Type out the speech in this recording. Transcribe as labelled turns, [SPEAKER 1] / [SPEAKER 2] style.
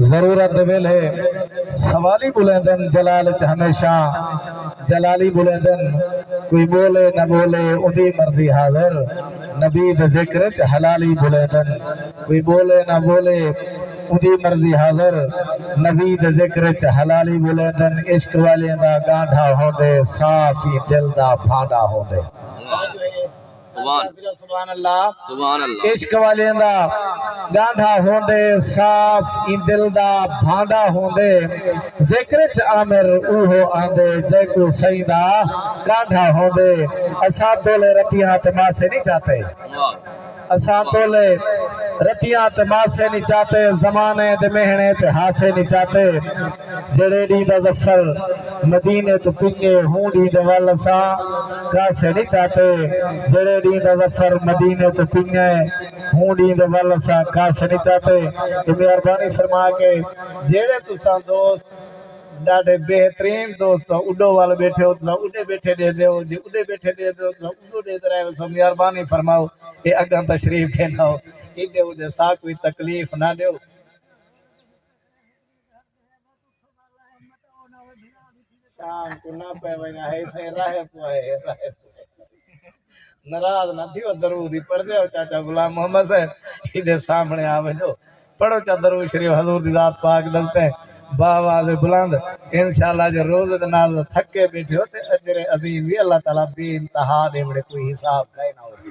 [SPEAKER 1] ضرورت دے ویلھے سوالی بولیندن جلال اچ ہمیشہ جلالی بولیندن کوئی بولے نہ بولے اودی مرضی حاضر نبی دے ذکر اچ حلالی بولیندن کوئی بولے نہ بولے اودی مرضی حاضر نبی دے ذکر اچ حلالی بولیندن عشق والیاں دا گانڈھا ہوندے صاف ہی دل دا بھانڈا ہوندے سبحان اللہ عشق والیاں دا ڈانڈھا ہوندے صاف ایں دل دا بھانڈا ہوندے ذکر اچ عامر اوہو آندے جیکوں سئیں دا کانڈھا ہوندے اساں تولے رتیاں تے ماسے نی چاتے اساں تولے رتیاں تے ماسے نی چاتے زمانے دے مہنے تے ہاسے نی چاتے جیڑھے ݙینہہ دا ظفر مدینے توں پنگے ہوں ݙینہہ دے ول اساں کاسے نی چاتے جیڑھے ݙینہہ دا ظفر مدینے توں پنگے ہوں ݙینہہ دے ول اساں کاسے نی چاتے تے مہربانی فرما کے جیڑھے تساں دوست ݙاڈھے بہترین دوست تاں اݙو ول ٻیٹھے ہو تساں اݙے ٻیٹھے ݙے دیو جے اݙے ٻیٹھے ݙے دیو تساں اݙو ݙیندے رہ ویسو مہربانی فرماؤ اے اڳاں تشریف پھیلاؤ اݙے اݙے ساکوں وی تکلیف نہ ݙیو۔ شام کو نہ پے وینا ہے تے راہ پوئے راہ ناراض نہ تھیو درود ہی پڑھ دیو چاچا غلام محمد صاحب ایدے سامنے آ ویندو پڑھو چا درود شریف حضور دی ذات پاک دلتے با آواز بلند انشاءاللہ جو روز دے نال تھکے بیٹھے ہو تے اجر عظیم وی اللہ تعالی بے انتہا دے وڑے کوئی حساب کائے نہ ہو سی